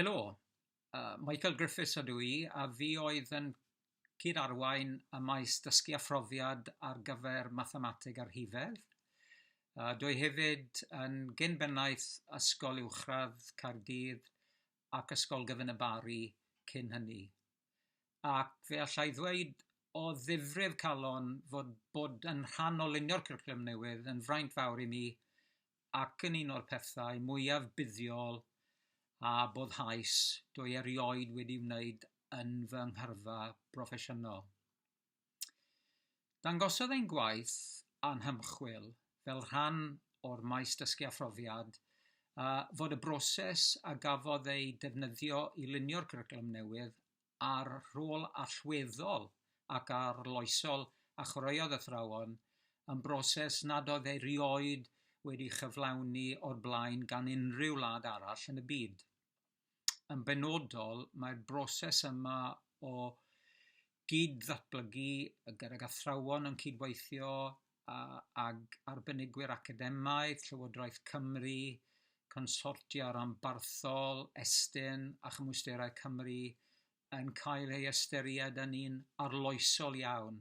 Helo, yy Michael Griffiths ydw i a fi oedd yn cyd-arwain y maes dysgu a phrofiad ar gyfer mathemateg a rhifedd. Yy dwi hefyd yn gyn-bennaeth Ysgol Uwchradd Caerdydd ac Ysgol Gyfun y Barri cyn hynny. Ac fe allai ddweud o ddifrif calon fod bod yn rhan o lunio'r cwricwlwm newydd yn fraint fawr i mi ac yn un o'r pethau mwyaf buddiol a boddhaus dwi erioed wedi wneud yn fy nghyrfa broffesiynol. Dangosodd ein gwaith a'n hymchwil fel rhan o'r maes dysgu a phrofiad fod y broses a gafodd ei defnyddio i lunio'r cwricwlwm newydd â'r rhôl allweddol ac arloesol a chwaraeodd athrawon yn broses nad oedd erioed wedi ei chyflawni o'r blaen gan unrhyw wlad arall yn y byd. yn benodol, mae'r broses yma o gyd-ddatblygu gydag athrawon yn cydweithio a, ag arbenigwyr academaidd, Llywodraeth Cymru, consortia rhanbarthol, Estyn a chymwysterau Cymru, yn cael ei ystyried yn un arloesol iawn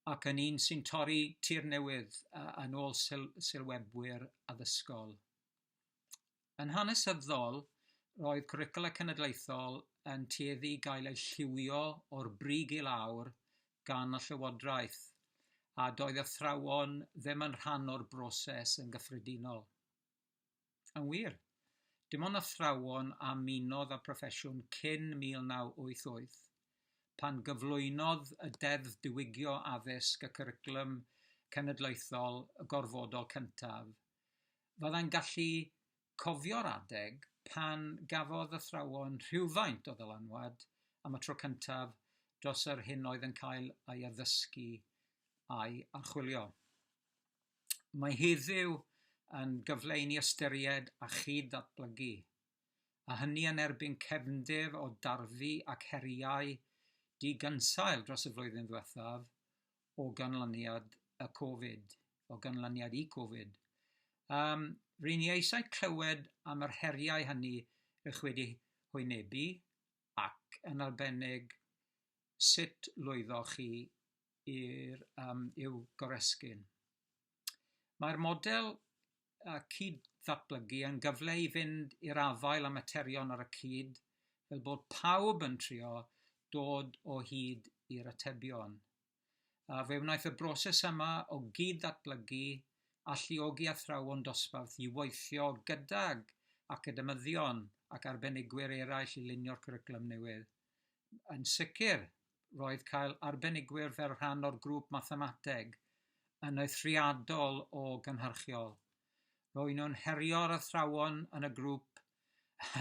ac yn un sy'n torri tir newydd yn ôl syl sylwebwyr addysgol. Yn hanesyddol, roedd cwricwlau cenedlaethol yn tueddu i gael eu lliwio o'r brig i lawr gan y Llywodraeth, a doedd athrawon ddim yn rhan o'r broses yn gyffredinol. Yn wir, dim ond athrawon a ymunodd â'r proffesiwn cyn 1988, pan gyflwynodd y Deddf Diwygio Addysg y cwricwlwm cenedlaethol gorfodol cyntaf, Fyddai'n gallu cofio'r adeg pan gafodd athrawon rhywfaint o ddylanwad am y tro cyntaf dros yr hyn oedd yn cael ei addysgu a'i archwilio. Mae heddiw yn gyfle i ni ystyried a chyd-ddatblygu, a hynny yn erbyn cefndir o darfu ac heriau digynsail dros y flwyddyn ddiwethaf, o ganlyniad y Covid, o ganlyniad i Covid. Um, Rwy'n i eisiau clywed am yr heriau hynny ych wedi hwynebu ac yn arbennig sut lwyddoch chi i'r um, i'w goresgyn. Mae'r model yy cyd-ddatblygu yn gyfle i fynd i'r afael â materion ar y cyd, fel bod pawb yn trio dod o hyd i'r atebion. A fe wnaeth y broses yma o gyd-ddatblygu alluogi athrawon dosbarth i weithio gydag academyddion ac arbenigwyr eraill i lunio'r cwricwlwm newydd. yn sicr, roedd cael arbenigwyr fel rhan o'r grŵp mathemateg yn eithriadol o gynhyrchiol. Roedd nhw'n herio'r athrawon yn y grŵp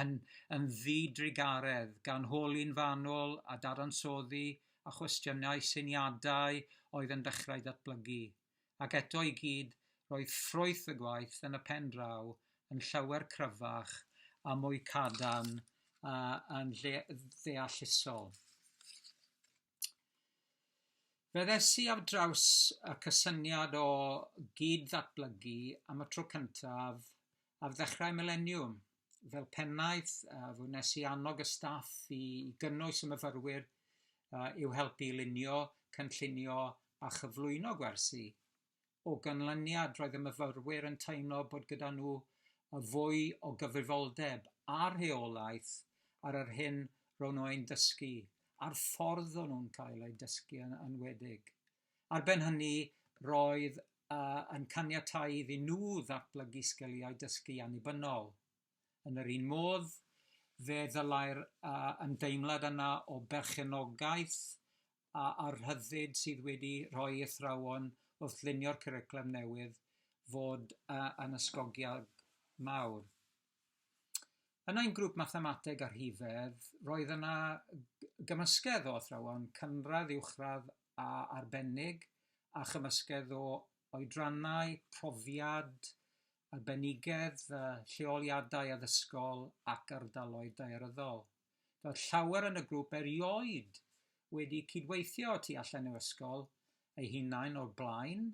yn, yn ddi-drugaredd, gan holi'n fanwl a dadansoddi a chwestiynau syniadau oedd yn dechrau datblygu. ac eto i gyd roedd ffrwyth y gwaith yn y pen draw yn llawer cryfach a mwy cadarn a yn ddeallusol. Fe ddesi ar draws y cysyniad o gyd-ddatblygu am y tro cyntaf ar ddechrau mileniwm, fel pennaeth, uh, fy nes i annog y staff i gynnwys y myfyrwyr uh, i'w helpu i lunio, cynllunio a chyflwyno gwersi. O ganlyniad, roedd y myfyrwyr yn teimlo bod gyda nhw y fwy o gyfrifoldeb a rheolaeth ar yr hyn ro'n nhw ein dysgu a'r ffordd o'n nhw'n cael eu dysgu yn enwedig. Ar ben hynny, roedd yn caniatáu iddyn nhw ddatblygu sgiliau dysgu annibynnol. Yn yr un modd, fe ddylai'r ymdeimlad yna o berchenogaeth a'r rhyddid sydd wedi rhoi ei athrawon wrth lunio'r cwricwlwm newydd fod yn ysgogiad mawr. Yn ein grŵp Mathemateg a Rhifedd, roedd yna gymysgedd o athrawon cynradd, uwchradd a arbennig a chymysgedd o oedrannau, profiad, arbenigedd, lleoliadau addysgol ac ardaloedd daearyddol. Doedd llawer yn y grŵp erioed wedi cydweithio y tu allan i'w ysgol eu hunain o'r blaen,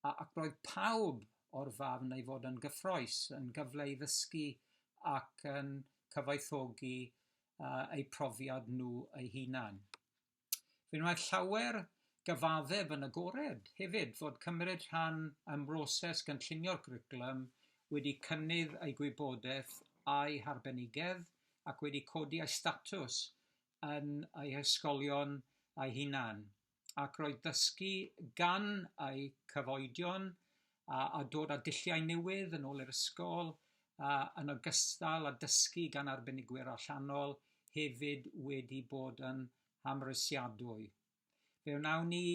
a ac roedd pawb o'r farn ei fod yn gyffroes, yn gyfle i ddysgu ac yn cyfoethogi eu profiad nhw eu hunain. Fe wnaeth llawer gyfaddef yn agored hefyd fod cymryd rhan ym mhroses gynllunio'r cwricwlwm wedi cynnydd ei gwybodaeth a'i harbenigedd ac wedi codi ei statws yn ei hysgolion ei hunan ac roedd dysgu gan ei cyfoedion a, a dod â dulliau newydd yn ôl i'r ysgol, a, yn ogystal â dysgu gan arbenigwyr allanol, hefyd wedi bod yn amhrisiadwy. Fe wnawn ni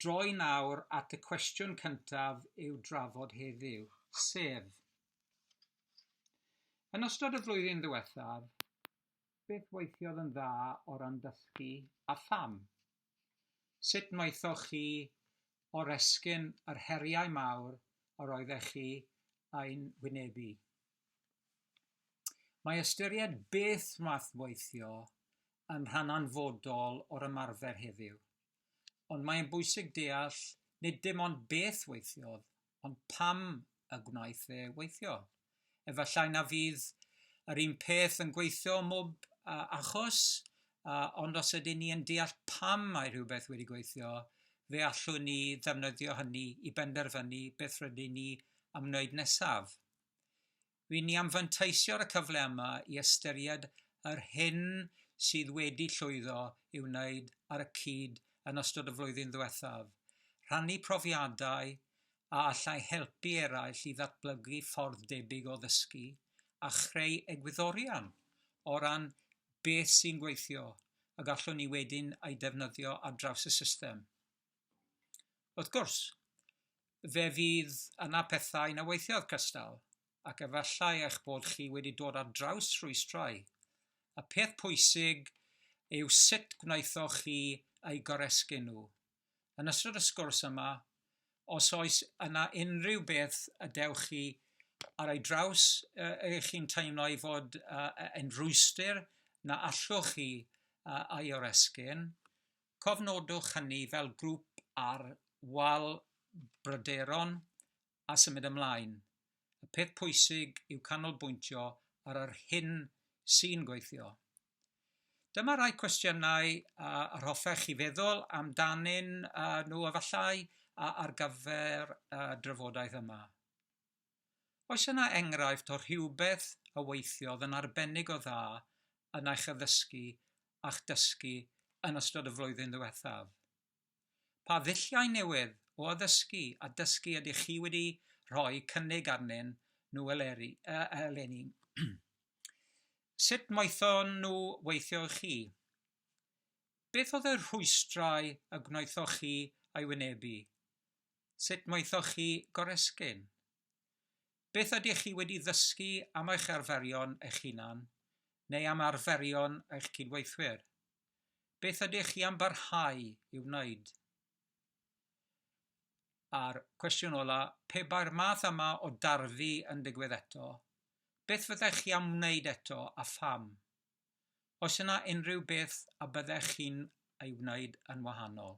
droi nawr at y cwestiwn cyntaf i'w drafod heddiw, sef Yn ystod y flwyddyn ddiwethaf, beth weithiodd yn dda o ran dysgu a pham? Sut wnaethoch chi oresgyn yr heriau mawr yr oeddech chi eu hwynebu? Mae ystyried beth wnaeth weithio yn rhan anfodol o'r ymarfer heddiw, ond mae'n bwysig deall nid dim ond beth weithiodd, ond pam y gwnaeth fe weithio? Efallai na fydd yr un peth yn gweithio ym mhob uh, achos, uh, ond os ydyn ni yn deall pam mae rhywbeth wedi gweithio, fe allwn ni ddefnyddio hynny i benderfynu beth rydyn ni am wneud nesaf. Ry'n ni am fanteisio ar y cyfle yma i ystyried yr hyn sydd wedi llwyddo i'w wneud ar y cyd yn ystod y flwyddyn ddiwethaf, rhannu profiadau a allai helpu eraill i ddatblygu ffordd debyg o ddysgu, a chreu egwyddorion o ran beth sy'n gweithio y gallwn ni wedyn ei defnyddio ar draws y system. Wrth gwrs, fe fydd yna pethau na weithiodd cystal, ac efallai eich bod chi wedi dod ar draws rhwystrau. Y peth pwysig yw sut gwnaethoch chi eu goresgyn nhw. Yn ystod y sgwrs yma, os oes yna unrhyw beth y dewch chi ar ei draws y chi'n teimlo ei fod yn rhwystr na allwch chi ei oresgyn, Cofnodwch hynny fel grŵp ar wal bryderon a symud ymlaen. Y peth pwysig yw canolbwyntio ar yr hyn sy'n gweithio. Dyma rai cwestiynau yr hoffech chi feddwl amdanyn nhw efallai ar gyfer y drafodaeth yma. Oes yna enghraifft o rhywbeth a weithiodd yn arbennig o dda yn eich addysgu a'ch dysgu yn ystod y flwyddyn ddiwethaf? Pa ddulliau newydd o addysgu a dysgu ydych chi wedi rhoi cynnig arnyn nhw eleri, uh, eleni? Sut moethon nhw weithio i chi? Beth oedd y rhwystrau y gwnaethoch chi a'i wynebu? Sut maethoch chi goresgyn? Beth ydych chi wedi ddysgu am eich arferion eich hunan neu am arferion eich cydweithwyr? Beth ydych chi am barhau i'w wneud? A'r cwestiwn ola, pe bai'r math yma o darfu yn digwydd eto, beth fyddech chi am wneud eto a pham? Oes yna unrhyw beth a byddech chi'n ei wneud yn wahanol?